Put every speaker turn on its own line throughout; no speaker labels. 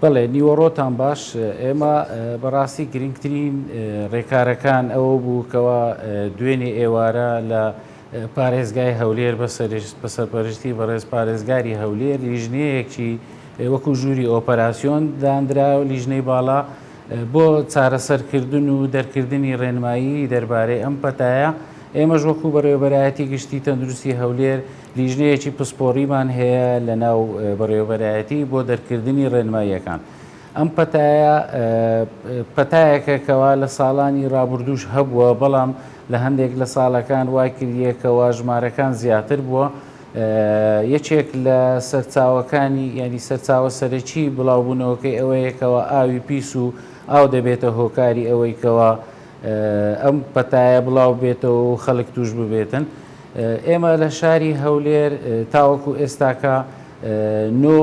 بەڵێ نیوەڕۆتان باش ئێمە بەڕاستی گرنگترین ڕێکارەکان ئەوە بوو کەەوە دوێنێ ئێوارە لە پارێزگای هەولێر بە سەرپەرشتی بەڕێز پارێزگاری هەولێر لیژنەیەکی وەکو ژووری ئۆپەراسسیۆن دانرا و لیژنەی باڵا بۆ چارەسەرکردن و دەرکردنی ڕێنمایی دەربارەی ئەم پەتایە، ئێمەش وەکو بەڕێوەبەرایەتی گشتی تەندروستی هەولێر لیژنەیەکی پسپۆریمان هەیە لەناو بەڕێوەبەرایەتی بۆ دەرکردنی ڕێنماییەکان. ئەم پەتایە پەتایەکە کەوا لە ساڵانی ڕابردووش هەبووە، بەڵام لە هەندێک لە ساڵەکان وایکردیە کەوا ژمارەکان زیاتر بووە، یەکێک لە سەرچاوەکانی یانی سەرچاوە سەرەکی بڵاوبوونەوەکەی ئەوەیە کەەوە ئاوی پیس و ئاو دەبێتە هۆکاری ئەوەی کەەوە ئەم پەتایە بڵاو بێتەوە و خەڵک توش ببێتن ئێمە لە شاری هەولێر تاوەکو ئێستاکە نۆ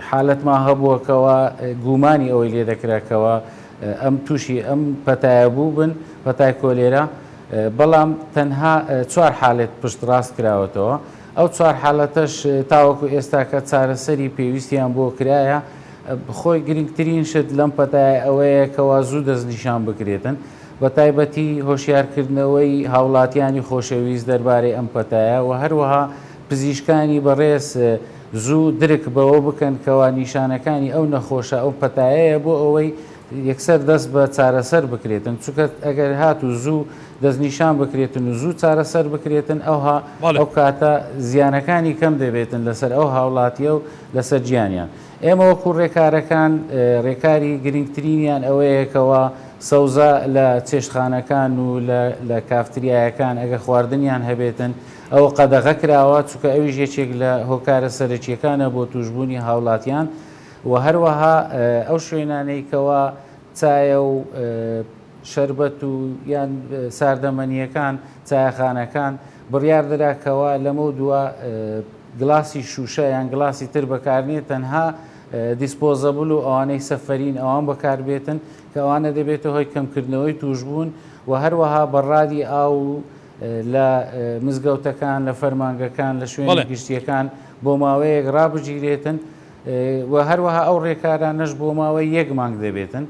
حالەتمان هەبووە کەوا گوومانی ئەوەی لێ دەکرا کەوا ئەم تووشی ئەم پەتایە بووبن، پەتای کۆلێرا، بەڵام تەنها چوار حالەت پشتڕاست کراوەتەوە، ئەو چوار حالەتەش تاوەکو ئێستاکە چارەسەری پێویستیان بۆ کرایە، خۆی گرنگترین شت لەم پەتایە ئەوەیە کەوا زوو دەستنیشان بکرێتن، بەتایبەتی هۆشیارکردنەوەی هاوڵاتیانی خۆشەویست دەربارەی ئەم پەتایە و هەروەها پزیشکانی بەڕێز زوو درک بەوە بکەن کەوا نیشانەکانی ئەو نەخۆشە ئەو پەتایەیە بۆ ئەوەی یەکسەر دەست بە چارەسەر بکرێتن چونکە ئەگەر هاتوو زوو دەستنیشان بکرێتن و زوو چارەسەر بکرێتن ئەوها بەڵێ. ئەو کاتە زیانەکانی کەم دەبێتن لەسەر ئەو هاوڵاتیە و لەسەر گیانیان ئێمە وەکو ڕێکارەکان ڕێکاری گرنگترینیان ئەوەیە کەوا سەوزە لە چێشتخانەکان و لە لە کافتریایەکان ئەگەر خواردنیان هەبێتن ئەو قەدەغە کراوە چونکە ئەویش یەکێک لە هۆکارە سەرەکییەکانە بۆ تووشبوونی هاوڵاتیان و هەروەها ئەو شوێنانەی کەوا چایە و شەربەت و یان ساردەمەنییەکان چایەخانەکان بڕیار درا کەوا لەمەو دوا گلاسی شووشە یان گلاسی تر بەکارنیە تەنها دیسپۆزەبل و ئەوانەی سەفەرین ئەوان بەکار بێتن کە ئەوانە دەبێتە هۆی کەمکردنەوەی تووشبوون و هەروەها بەڕادی ئاو و لە مزگەوتەکان، لە فەرمانگەکان، لە شوێنە گشتییەکان بۆ ماوەیەک ڕابگیرێتن و هەروەها ئەو ڕێکارانەش بۆ ماوەی یەک مانگ دەبێتن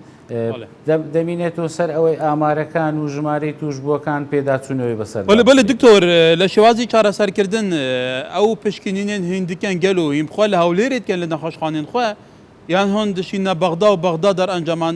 دەمینێتەوە سەر ئەوەی ئامارەکان و ژمارەی توشبووەکان پێداچوونەوەی بەسەر بەە بەە دکتۆر
لە شێوازی چارەسەرکردن ئەو پشکنینێن هندکەن گەل و هیمخوا لە هەولێرێتکەن لە نەخۆشخانێن خوێ یان هۆن دشینە بەغدا و بەغدا دەرئەنجامان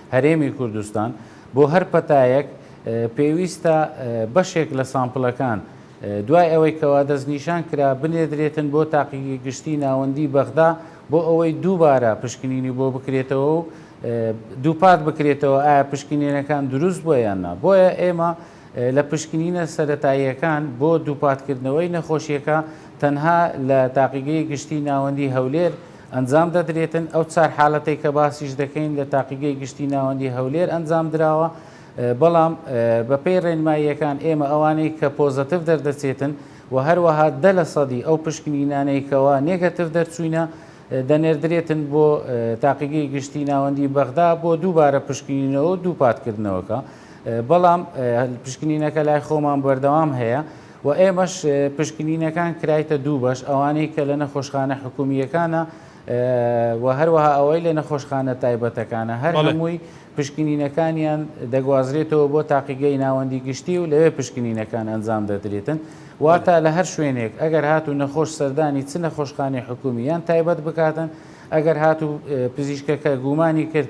هەرێمی کوردستان، بۆ هەر پەتایەک پێویستە بەشێک لە سامپلەکان دوای ئەوەی کەوا دەستنیشان کرا بنێردرێتن بۆ تاقیگەی گشتی ناوەندی بەغدا بۆ ئەوەی دووبارە پشکنینی بۆ بکرێتەوە و دووپات بکرێتەوە ئایا پشکنینەکان دروست بووە یان نا بۆیە ئێمە لە پشکنینە سەتاییەکان بۆ دووپاتکردنەوەی نەخۆشیەکە تەنها لە تاقیگەی گشتی ناوەندی هەولێر ئەنجام دەدرێتن، ئەو چار حالەتەی کە باسیش دەکەین لە تاقیگەی گشتی ناوەندی هەولێر ئەنجام دراوە، بەڵام بەپێی ڕێنماییەکان ئێمە ئەوانەی کە پۆزەتڤ دەردەچێتن و هەروەها دە لە سەدی ئەو پشکنینانەی کەوا نێگەتڤ دەرچووینە دەنێردرێتن بۆ تاقیگەی گشتی ناوەندی بەغدا بۆ دووبارە پشکنینەوەو دووپاتکردنەوەکە بەڵام پشکنینەکە لای خۆمان بەردەوام هەیە و ئێمەش پشکنینەکان کرایتە دوو بەش، ئەوانەی کە لە نەخۆشخانە حکوومییەکانە و هەروەها ئەوەی لە نەخۆشخانە تایبەتەکانە، هەر هەمووی پشکنینەکانیان دەگوازرێتەوە بۆ تاقیگەی ناوەندی گشتی و لەوێ پشکنینەکان ئەنجام دەدرێتن، واتە لە هەر شوێنێک ئەگەر هاتوو نەخۆش سەردانی چ نەخۆشخانەی حکوومی یان تایبەت بکاتن، ئەگەر هاتوو پزیشکەکە گومانی کرد،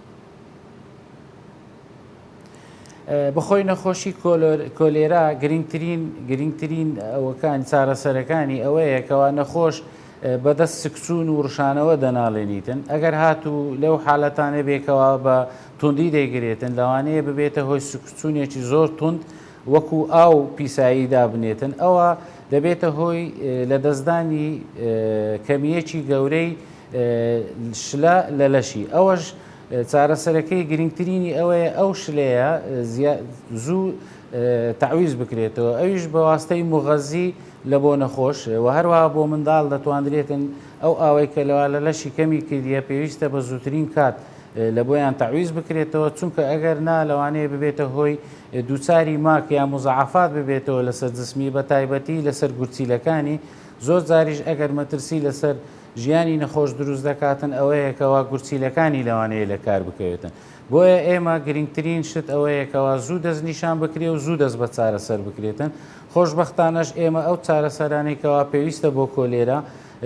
بەخۆی نەخۆشی کۆلێرا گرنگترین گرنگترین ئەوەکان چارەسەرەکانی ئەوەیە کەوا نەخۆش بەدەست سکچون و ڕشانەوە دەناڵێنیتن ئەگەر هاتوو لەو حالەتانە بێکەوە بە توندی دەگرێتن لەوانەیە ببێتە هۆی سکچونێکی زۆر تونند وەکو ئاو پیسایی دابنێتن، ئەوا دەبێتە هۆی لەدەستدانی کەمییەکی گەورەی شلە لە لەشی، ئەوەش چارەسەرەکەی گرنگترینی ئەوەیە ئەو شلەیە زوو تەعویز بکرێتەوە ئەویش بەواستەی موغەزی لە بۆ نەخۆش و هەروەها بۆ منداڵ دەتواندرێتن ئەو ئاوەی کە لەوا لە لەشی کەمی کردیە پێویستە بە زووترین کات لە بۆیان تەعویز بکرێتەوە، چونکە ئەگەر نا لەوانەیە ببێتە هۆی دووچاری ماک یا موزاعەفات ببێتەوە لەسەر جسمی بە تایبەتی لەسەر گورچیلەکانی، زۆر جاریش ئەگەر مەترسی لەسەر ژیانی نەخۆش دروست دەکاتن ئەوەیە کەوا گورچیلەکانی لەوانەیە لە کار بکەوێتن. بۆیە ئێمە گرنگترین شت ئەوەیە کەوا زوو دەست نیشان بکرێ و زوو دەست بە چارەسەر بکرێتن، خۆشبەختانەش ئێمە ئەو چارەسەرانەی کەوا پێویستە بۆ کۆلێرا،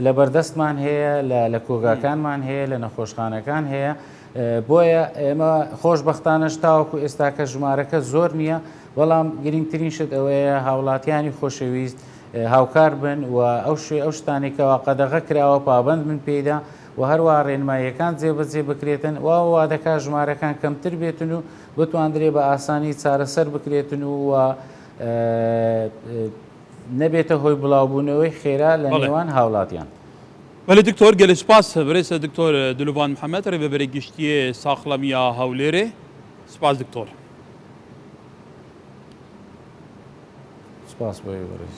لە بەردەستمان هەیە، لە کۆگاکانمان هەیە، لە نەخۆشخانەکان هەیە، بۆیە ئێمە خۆشببختانەش تاوەکو ئێستاکە ژمارەکە زۆر نییە، بەڵام گرنگترین شت ئەوەیە هاوڵاتیانی خۆشەویست هاوکار بن و ئەو شوێ ئەو شتانی کەوا قەدەغە کراوە پابند من پێیدا و هەروە ڕێنماییەکان جێبەجێ بکرێتن و وا دەکا ژمارەکان کەمتر بێتن و بتواندرێ بە ئاسانی چارەسەر بکرێتن و نەبێتە هۆی بڵاوبوونەوەی خێرا لە بەڵێ. نێوان هاوڵاتیان. بەلی دکتۆر
گەلی سوپاس برێسە دکتۆر دلوڤان محمد ریڤەبەری گشتیێ ساخڵەمیە هەولێرێ سوپاس دکتۆر.
سپاس بۆ ئێوەرێز.